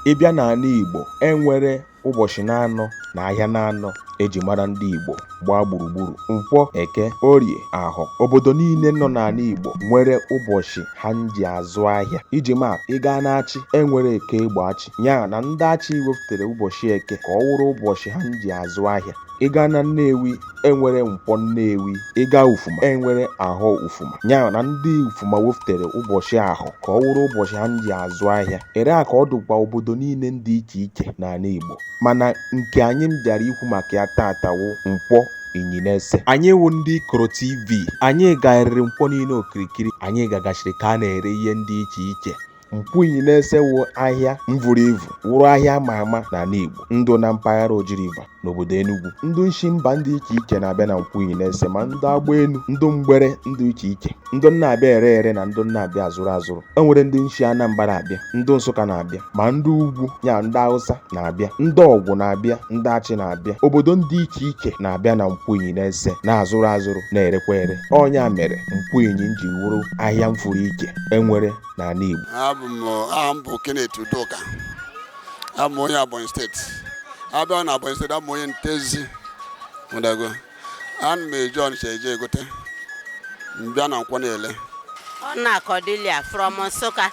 ị bịa n'ala Igbo e nwere ụbọchị na-anọ na ahịa na-anọ eji mara ndị Igbo gbaa gburugburu nkwọ eke orie ahọ obodo niile nọ n'ala Igbo nwere ụbọchị ha ji azụ ahịa iji ma ị gaa n'Achị enwere eke Egbo Achị ya na ndị Achị weftere ụbọchị eke ka ọ wụrụ ụbọchị ha ji azụ ahịa ị gaa na Nnewi enwere nkwọ Nnewi ị gaa Ufuma enwere ahọ Ufuma ya na ndị Ufuma weftere ụbọchị ahọ ka ọ wụrụ ụbọchị ha ji azụ ahịa ere a ka ọ dụkwa obodo niile dị iche iche n'ala Igbo mana nke anyị mbịara ikwu maka ya taata wụ nkwọ Inyinese anyị wụ ndị Ikoro TV anyị garịrị nkwọ niile okirikiri anyị gagachiri ka a na-ere ihe ndị iche iche nkwọ Inyinese wụ ahịa mvuru ivu wụrụ ahịa a ma ama n'ala Igbo ndụ na mpaghara Oji River n'obodo Enugu ndụ nshi mba ndị iche iche na-abịa na nkwọ Inyinese ma ndụ agba elu ndụ mgbere ndụ iche iche ndụ na-abịa ere ere na ndụ na-abịa azụrụ azụrụ e nwere ndị nshi Anambra abịa ndụ Nsụka na-abịa ma ndị ugwu ya ndị Hausa na-abịa ndị Ọgwụ na-abịa ndị Achị na-abịa obodo ndị iche iche na-abịa na nkwọ Inyinese na-azụrụ azụrụ na-erekwa ere ọ nya mere nkwọ Inyi ji wụrụ ahịa mfụrụ iche enwere n'ala Igbo aha m bụ Kenneth Udoka abụ m onye Ebonyi steeti a bịa na Ebonyi steeti abụ m onye Ntezi mụdago ana m eje Ọnịcha eje egote m bịa na nkwọ na-ele Ọna Cordelia from Nsụka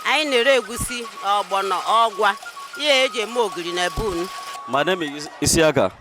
anyị na-ere egusi ọgbọnọ ọgwa ihe eji eme ogiri na bun My name is Isiaka.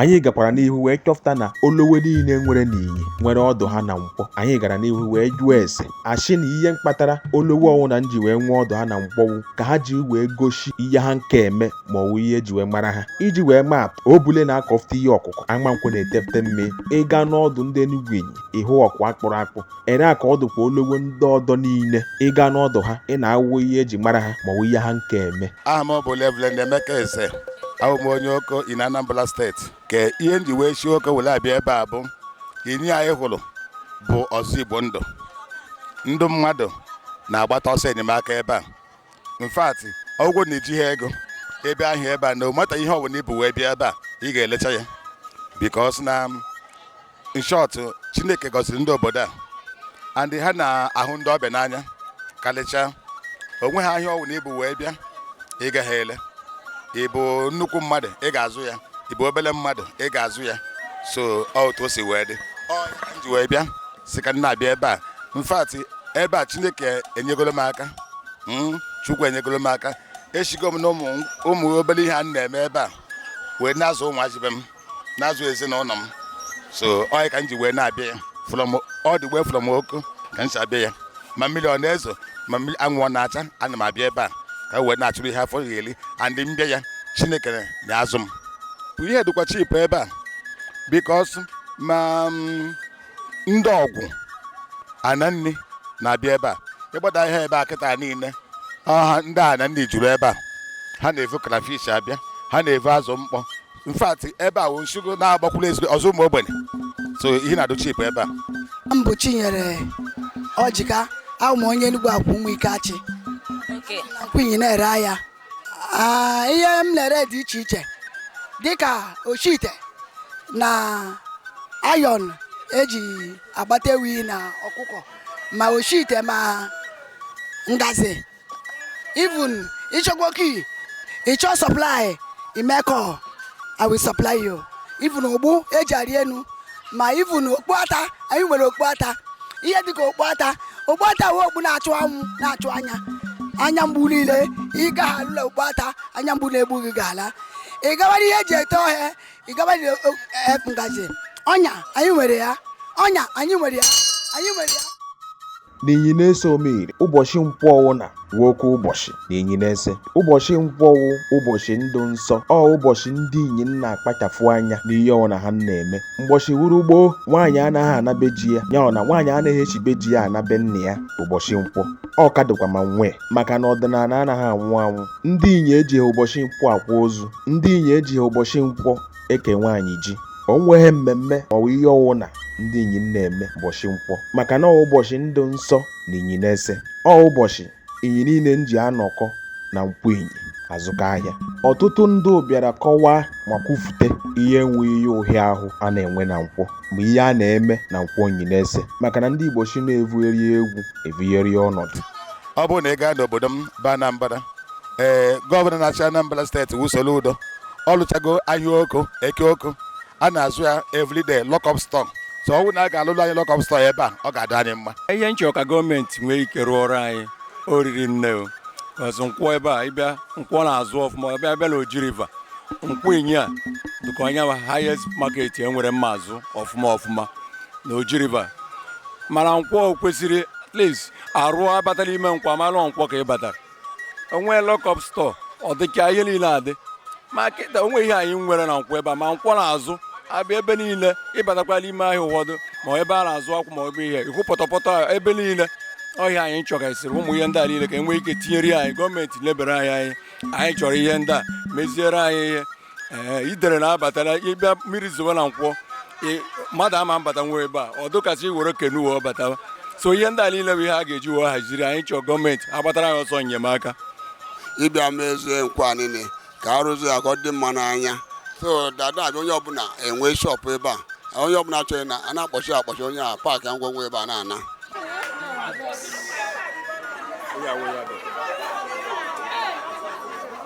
anyị gakwara n'ihu wee chọfụta na olowe niile nwere n'Inyi nwere ọdụ ha na nkwọ anyị gara n'ihu wee jụọ ese a shị na ihe mkpatara olowe ọwụna nji wee nwee ọdụ ha na nkwọ wụ ka ha ji wee gosi ihe ha nke eme ma ọ wụ ihe eji wee mara ha iji wee maa atụ Obule na-akọfụta ihe ọkụkụ Amankwọ na-etefte mmị ị gaa n'ọdụ ndị Enugu Inyi ị hụ ọkụ a kpụrụ akpụ ere a ka ọ dụkwa olowe ndị ọdọ niile ị gaa n'ọdụ ha ị na-ahụ ihe eji mara ha ma ọ wụ ihe ha nke eme aha m bụ Reverend Emeka Eze abụ m onye Oko in Anambra steeti ka ihe m ji wee si Oko were abịa ebe a bụ Inyi anyị hụrụ bụ ọzọ Igbo ndụ ndị mmadụ na-agbata ọsọ enyemaka ebe a in fact ọgwụgwọ na-eji ha ego ebe ahụ ebe a no matter ihe ọbụla i bu wee bịa ebe a ị ga-elecha ya because na in short chineke gọziri ndị obodo a and ha na-ahụ ndị ọbịa n'anya karịchaa o nweha ahịa ọwụna i bu wee bịa ị gaghị ele ị bụ nnukwu mmadụ ị ga-azụ ya ị bụ obere mmadụ ị ga-azụ ya so otu o si wee dị m ji wee bịa sị ka m na-abịa ebe a in fact ebe a chineke enyegolo m aka chukwu enyegolo m aka esigo m na ụmụ obere ihe a m na-eme ebe a wee na-azụ ụmụazị be m na-azụ ezinụlọ m so ọ ya ka m ji wee na-abịa ya all the way from Oko ka m si abịa ya ma mmiri ọ na-ezo ma mmiri anwụ ọ na-acha ana m abịa ebe a ka m wee na-achụrụ ihe afọ ya-eli and m bịa ya chineke na-azụ m ihe dịkwa cheap ebe a because ma ndị Ọgwụ Aninri na-abịa ebe a ịgbada ihe ebe a kịta niile ọha ndị Aninri juru ebe a ha na-evu crayfish abịa ha na-evu azụ mkpọ in fact ebe a wụ nshigo na-agbakwuru ezigbo ọzụ ụmụ ogbenye so ihe na-adụ cheap ebe a m bụ Chinyere Ọjịka awụ m onye Enugwu Akwụ Ụmụike Achị Nkwọ Inyi na-ere ahịa Ah, ihe m na-ere dị iche iche dịka oshite na iron eji agbata ewi na ọkụkọ ma oshite ma ngazi even ị chọkwa ọkụ ị chọọ supply imekọ i will supply you even ogbu eji arị enu ma even okpu ata anyị nwere okpu ata ihe dịka okpu ata okpu ata wụ okpu na-achụ anwụ na-achụ anya anya mgbu niile ị ga ha alụla okpu ata anya mgbu na-egbu gị ga-ala ị gabara ihe eji ete ọhịa ị gabara ihe o- e- ngaji ọnya anyị nwere ya ọnya anyị nwere ya anyị nwere ya na Inyi nese Omire ụbọchị nkwọ ọwụna wụ oke ụbọchị na Inyi nese ụbọchị nkwọ wụ ụbọchị ndụ nsọ ọ ụbọchị ndị inyi na-akpachafụ anya n'ihe ọwụna ha na-eme mgbọchị wụrụ gboo nwaanyị anaghị ana be ji ya ya ọ na nwaanyị anaghị eshi be ji ya ana be nna ya ụbọchị nkwọ ọ ka dịkwa ma nwee maka na ọdịnala anaghị anwụ anwụ ndị inyi ejighị ụbọchị nkwọ akwa ozu ndị inyi ejighị ụbọchị nkwọ eke nwaanyị ji o nweghị mmemme maọbụ ihe ọwụna ndị inyi na-eme ụbọchị nkwọ maka na ọ ụbọchị ndụ nsọ na Inyi nese ọ ụbọchị inyi niile nji anọkọ na Nkwọ Inyi azụkọ ahịa ọtụtụ ndị bịara kọwaa ma kwufute ihe enweghị ihe ụhịa ahụ a na-enwe na nkwọ ma ihe a na-eme na Nkwọ Inyi nese maka na ndị Igbo sị na evugheri egwu evugheri ọnọdụ ọ bụrụ na ị gaa n'obodo m bụ Anambra ee gọvanọ na-achị Anambra steeti wụ Soludo ọ lụchago ahịa Oko Eke Oko a na-azụ ya everyday lock up store so ọ bụrụ na a ga-alụlụ anyị lock up store ebe a ọ ga-adị anyị mma ihe m chọrọ ka gọọmenti nwee ike rụọrọ anyị o riri nne o ọzọ nkwọ ebe a ị bịa nkwọ na-azụ ọfụma a bịa na Oji River Nkwọ Inyi a dịka ọ ya wụ highest market e nwere na-azụ ọfụma ọfụma na Oji River mana nkwọ kwesịrị at least a rụọ a batala ime nkwọ amalụ nkwọ ka ị batara o nwee lock up store ọ dịka ihe niile adị ma kịta o nwe ihe anyị nwere na nkwọ ebe a ma nkwọ na-azụ abịa ebe niile ị batakwala ime ahịa ụfọdụ ma ebe a na-azụ akwụ ma ebe ihe ị hụ pọtọpọtọ ebe niile ọhịa anyị chọgasịrị ụmụ ihe ndị a niile ka e nwee ike tinyere anyị gọọmenti lebere anyị anya anyị chọrọ ihe ndị a meziere anyị ihe ee idere na-abatara ịbịa mmiri zowe na nkwọ ị- mmadụ ama mbata nwa ebe a ọ dụkasị iwere kenu wee batawa so ihe ndị a niile bụ ihe a ga-eji wee haziri anyị chọọ gọọmenti agbatara anyị ọsọ enyemaka ịbịa mezie nkwọ niile ka a rụzie ya ka ọ dị mma n'anya so that a bịa onye ọbụla enwe shọpụ ebe a onye ọbụla chọrọ na a na-akpọchi akpọchi onye a paakị ngwongwo ebe a na-ana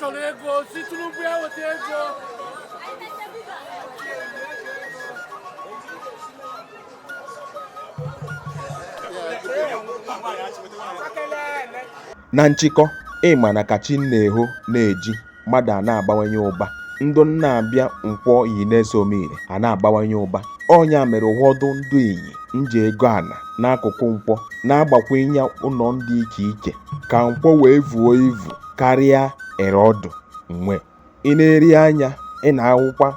chọrọ ego sị Tinubu ya weta ego Yeah, Na nchịkọ, ị ma na ka chi na-eho na-eji, mmadụ a na-abawanye ụba. Ndụ na-abịa Nkwọ Inyi na-eso omiri a na-abawanye ụba. Ọ nya mere ụfọdụ ndụ Inyi nji ego ana n'akụkụ nkwọ na-agbakwunye ụlọ ndị iche iche ka nkwọ wee vuo ivu karịa ere ọ dụ nwe. Ị na-eri anya, ị na-ahụkwa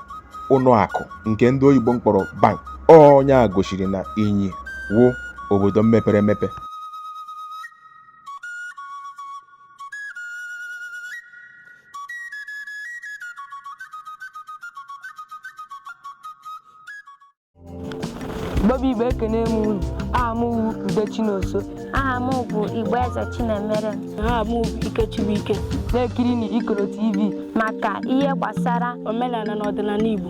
ụlọ akụ nke ndị oyibo mkpọrọ bank. Ọ nya gosiri na Inyi wụ obodo mepere emepe. Igbo bụ Igbo ekene m unu aha m bụ Ude Chinonso aha m bụ Igboeze Chinemere aha m bụ Ike Chibuike na-ekirinụ Ikoro TV maka ihe gbasara omenala na ọdịnala Igbo